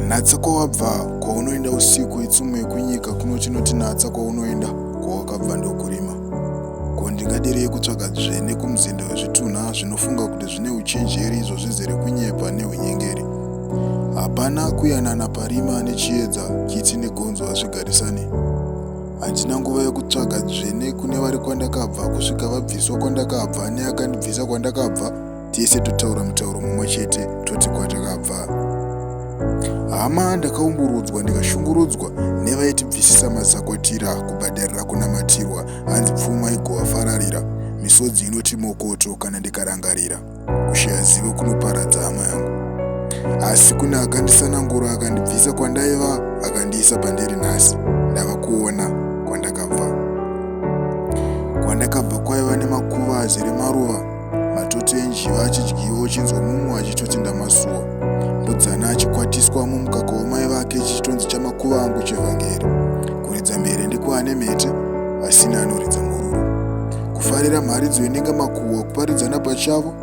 natsa kwawabva kwaunoenda usiku itsumo yekunyika kuno chinotinatsa kwaunoenda kwawakabva ndokurima Ko ndingadirei kutsvaga dzvene kumuzinda wezvitunha zvinofunga kuti zvine uchenjeri izvo zvizere kunyepa neunyengeri? Hapana kuyanana parima nechiedza, kitsi negonzo hazvigarisane. Handina nguva yokutsvaga dzvene kune vari kwandakabva kusvika vabviswa kwandakabva neakandibvisa kwandakabva tese totaura mutauro mumwe chete toti kwatakabva hama ndakaumburudzwa ndikashungurudzwa nevaitibvisisa mazakwatira kubhadharira kunamatirwa hanzi pfuma igovafararira misodzi inoti mokoto kana ndikarangarira kushaya zivo kunoparadza hama yangu asi kune akandisanangura akandibvisa kwandaiva akandiisa pandiri nhasi ndava kuona kwandakabva kwandakabva kwaiva nemakuva azere maruva matoti enjiva achidyiwa uchinzwa mumwe achitoti ndamasuwa mbudzana achikwatiswa mumukaka wamai vake chichitonzi chamakuva angu chevhangeri kuridza mhere ndikwaane mhete asina anoridza mururu kufarira mharidzo inenge makuhwa kuparidzana pachavo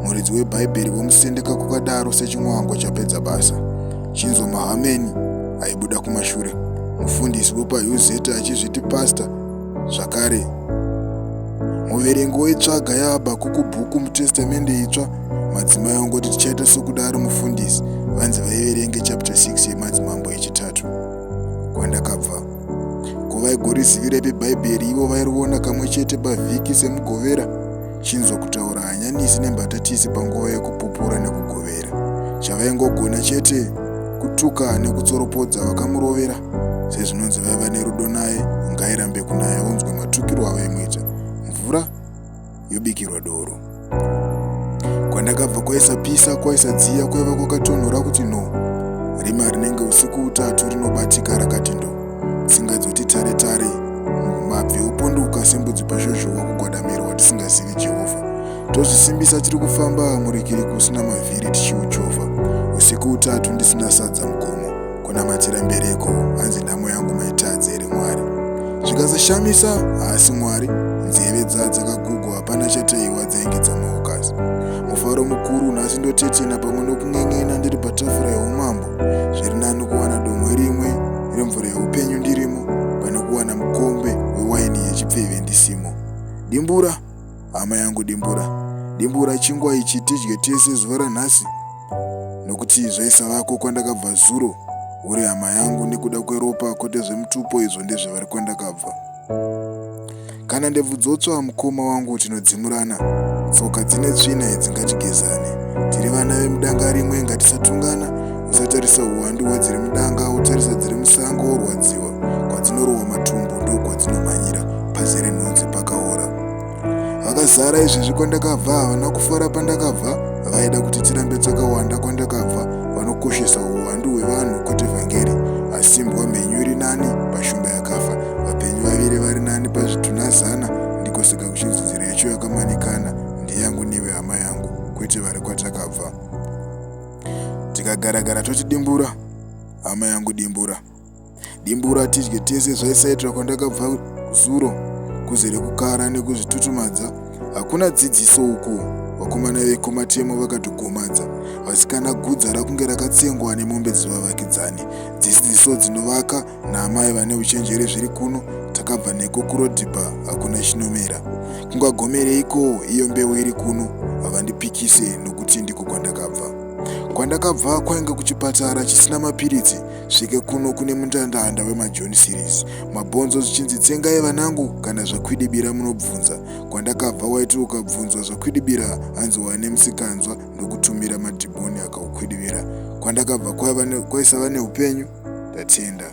muridzi webhaibheri vomusendeka kukadaro sechinwango chapedza basa chinzwa mahameni aibuda kumashure mufundisi wepahuzeta achizviti pasta Zvakare, muverengi woitsvaga yahabhakuku bhuku mutestamende itsva madzimai ongoti tichaita sokudaro mufundisi vanzi vaiverenge chapter 6 yemadzimambo yechitatu kwandakabva ko vaigorizivirai pebhaibheri ivo vairiona kamwe chete pavhiki semugovera chinzwa kutaura hanyanisi nembatatisi panguva yekupupura nekugovera chavaingogona chete kutuka nekutsoropodza vakamurovera sezvinonzi vaiva nerudo naye ngairambe kunaya unzwe matukirwo avaimuita mvura yobikirwa doro kwandakabva kwaisapisa kwaisadziya kwaiva kwakatonhora kuti no rima rinenge usiku utatu rinobatika rakati ndo tsinga dzoti tare tare mabvi opondoka sembudzi pazhozhowa kugwadamirwa tisingazivi jehovha tozvisimbisa tiri kufamba murikiri kusina mavhiri tichiuchovha usiku utatu ndisina sadza mugomo kunamatira mbereko hanzi nhamo yangu maitadze here mwari zvikazoshamisa haasi mwari nzeve dza dzakagugwa hapana chataiwa dzainge dzamaukazi mufaro mukuru nhasi ndotetena pamwe nokun'en'ena ndiri patafura yeumambo zviri nani kuwana domwe rimwe remvura yeupenyu ndirimo pane kuwana mukombe wewaini yechipfeve ndisimo dimbura hama yangu dimbura dimbura chingwa ichi tidye tese zuva ranhasi nokuti zvaisavako kwandakabva zuro uri hama yangu nekuda kweropa kwete zvemutupo izvo ndezvevari kwandakabva kana ndebvu dzotsva mukoma wangu tinodzimurana tsoka dzine tsvina idzi ngatigezane tiri vana vemudanga rimwe ngatisatungana usatarisa uwandu hwadziri mudanga utarisa dziri musango worwadziwa kwadzinorohwa matumbu ndokwadzinomanyira pazere nhunzi pakaora vakazara izvezvi kwandakabva havana kufara pandakabva vaida kuti tirambe takawanda kwandakabva vanokoshesa uwandu hwevanhu kwete vhangeri asimbwa mhenyu iri nani pashumba yakafa vapenyu vaviri vari nani pazvitunha zana ndiko saka kuchidzidzira yacho yakamanikana ndiyangu nive hama yangu kwete vari kwatakabva tikagaragara totidimbura hama yangu dimbura dimbura tidye tese zvaisaitira kwandakabva zuro kuzere kukara nekuzvitutumadza hakuna dzidziso uku vakomana vekomatemo vakatogomadza vasikana gudza rakunge rakatsengwa nemombe dzevavakidzani dzidziso dzinovaka naamai vane uchenjeri zviri kuno takabva neko kurodhipa hakuna chinomera kungagomereiko iyo mbeu iri kuno havandipikise nokuti ndiko kwandakabva kwandakabva kwainge kuchipatara chisina mapiritsi svike kuno kune mundandanda wemajoni series mabhonzo zvichinzi tsengai vanangu kana zvakwidibira munobvunza kwandakabva waiti ukabvunzwa zvakwidibira hanzi wane musikanzwa ndokutumira madhimoni akaukwidibira kwandakabva kwaisava neupenyu ndatenda